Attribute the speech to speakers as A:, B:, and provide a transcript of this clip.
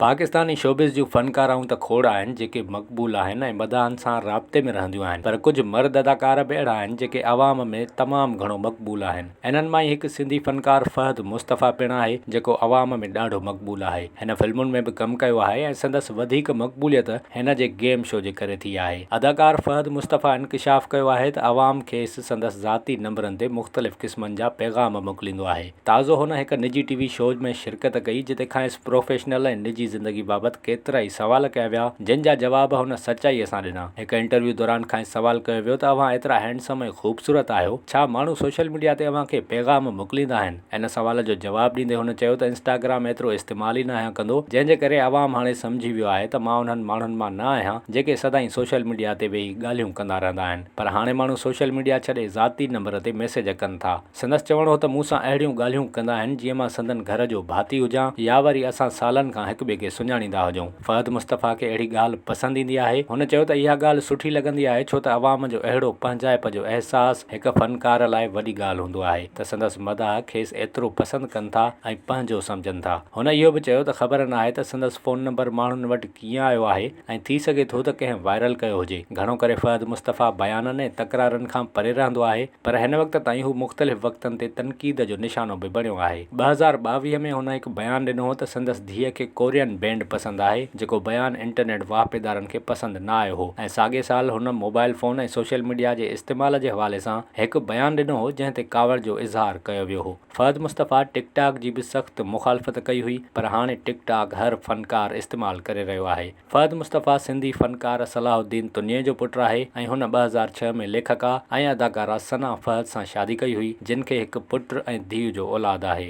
A: Pakistani showbiz جون فنڪارائون ته کوڙ آهن جيڪي مقبول آهن ۽ مداحن سان رابطي ۾ رهنديون آهن پر ڪجهه مرد اداڪار به اهڙا آهن جيڪي عوام ۾ تمام گهڻو مقبول آهن انهن مان ئي هڪ سنڌي فنڪار فهد مصطفيٰ پڻ آهي جيڪو عوام ۾ ڏاڍو مقبول آهي هن فلمن ۾ به ڪم ڪيو آهي ۽ سندس وڌيڪ مقبوليت هن جي گيم شو جي ڪري ٿي آهي اداڪار فهد مصطفيٰ انڪشاف ڪيو آهي ته عوام کيس سندس ذاتي نمبرن تي مختلف قسمن جا پيغام موڪليندو آهي. تازو هن هڪ نجي ٽي وي شو ۾ شرڪت ڪئي جتي کانئس پروفيشنل ۽ نجي زندگي بابت ڪيترائي سوال ڪيا ويا جن جا جواب هن سچائيء سان ڏنا. هڪ انٽرويو دوران کانئس سوال ڪيو ويو ته اوهان ايترا هينڊسم ۽ خوبصورت آهيو ڇا ماڻهو سوشل ميڊيا تي اوهان کي پيغام موڪليندا آهن؟ ان سوال جو جواب ڏيندي هن چيو ته انسٽاگرام ايترو استعمال ئي ناهيان ڪندو جنهن جي ڪري عوام هاڻي سمجهي ويو آهي ته مان انهن ماڻهن مان نه آهيان جيڪي سدائين سوشل ميڊيا تي ويهي ڳالهيون ڪندا رهندا آهن پر هاڻي ماڻهو سوشل ميڊيا ڇڏي ذاتي نمبر تي ميسيج ڪن ٿا. سندس چوڻ هو ته مون سان اهڙيون ڳالهيون ڪندا آهن جيئن مان سندن گهر جو ڀاتي هجان يا وري اسان سالن کان هڪ ٻئي کي سڃاڻيندا هجون. فهد مصطفيٰ کي اهڙي ڳالهه پسند ايندي آهي. هن چيو ته اها ڳالهه سٺي لڳندي آهي ڇو ته عوام جو اهڙو پنهنجائپ جو احساس هڪ فنڪار لاء وڏي ڳالهه هوندو آهي ته سندس مداح کيس ايترو پسند ڪن ٿا ۽ پنهنجو سمجهن ٿا. هن اهو به چيو ته خبر ناهي ته سندس فون نمبر ماڻهن وٽ ڪيئن آيو آهي ۽ ٿي سگهي ٿو ته ڪنهن وائرل ڪيو هجي. گهڻو ڪري فهد مصطفيٰ بيانن ۽ تڪرارن کان پري رهندو آهي. پر هن وقت تائين هو مختلف وقتن تي تنقيد جو نشانو به بڻيو آهي. ٻه هزار ٻاويهه ۾ هن هڪ بيان ڏنو هو ته سندس ڌيء کي ڪورين بينڊ پسند آهي، جيڪو بيان انٽرنيٽ واهپيدارن کي پسند نه آيو هو ۽ ساڳئي سال هن موبائل فون ۽ سوشل ميڊيا جي استعمال جي حوالي سان هڪ بيان ڏنو هو جنهن تي ڪاوڙ جو اظهار ڪيو ويو هو. فهد مصطفيٰ ٽڪ ٽاڪ جي به سخت مخالفت ڪئي هئي پر هاڻي ٽڪ ٽاڪ هر فنڪار استعمال ڪري رهيو آهي. فهد مصطفيٰ سنڌي فنڪار صلاح الدين تنيي جو پٽ آهي ۽ هن ٻه هزار ڇهه ۾ ليکڪا ۽ اداڪارا ثنا فهد سان شادي ڪئي هئي، جن کي هڪ پٽ ۽ ڌيء جو اولاد آهي.